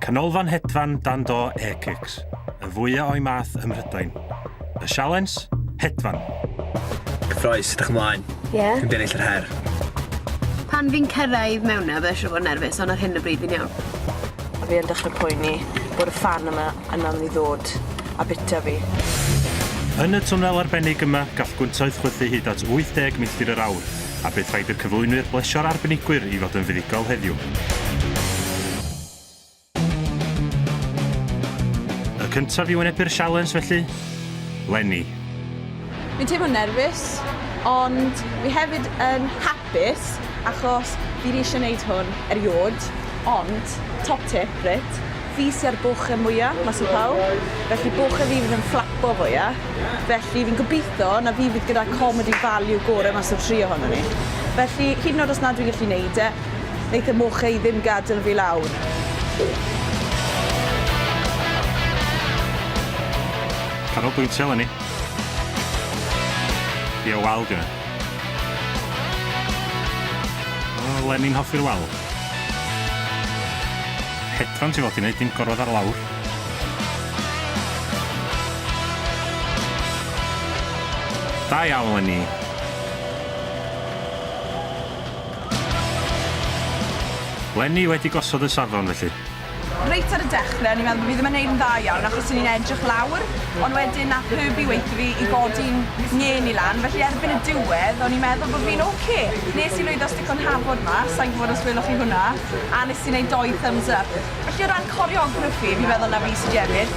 Canolfan hedfan dan do Airkicks, y fwya o'i math ym Mhrydain. Y sialens? Hedfan! Cyffroes, ydych ymlaen? Ie. Yeah. Dwi'n bennill yr her. Pan fi'n cyrraedd mewn na, fe eisiau fod nerfus, ond ar hyn y bryd fi'n iawn. A fi yn dechre poeni bod y fan yma yna myn' i ddod a bita fi. Yn y twnnel arbennig yma, gall gwyntoedd chwythu hyd at 80 milltir yr awr, a bydd rhaid i'r cyflwynwyr blesio'r arbenigwyr i fod yn fuddugol heddiw. Y cyntaf i wynebu'r sialens felly, Leni. Fi'n teimlo'n nerfus, ond fi hefyd yn hapus Bys, achos fi di ishe neud hwn eriod, ond, top tip, reit, fi sy ar boche mwya mas o pawb, felly boche fi fydd yn fflapo fwya, felly fi'n gobitho na fi fydd gyda comedy value gore mas o'r tri ohonon ni. Felly, hyd yn o'd os nad dwi'n gallu neud e, neith y moche i ddim gadel fi lawr. Canolbwyntio eleni. Ie, wel, dw i 'na. Len i'n hoffi'r wal. Hedfan ti fod i wneud dim gorwedd ar lawr. Da iawn Leni. Leni wedi gosod y safon felly. Reit ar y dechre o'n i'n meddwl bo' fi ddim yn neud yn dda iawn achos o'n i'n edrych lawr ond wedyn nath Herbie weutho fi i godi'n ngên i lan felly erbyn y diwedd o'n i'n meddwl bo' fi'n ok. Nes i lwyddo stico'n hafod mas, sai'n gwbod os weloch chi hwnna, a nes i neud dou thumbs up. Felly o ran coreography fi'n meddwl na fi sy 'di ennill.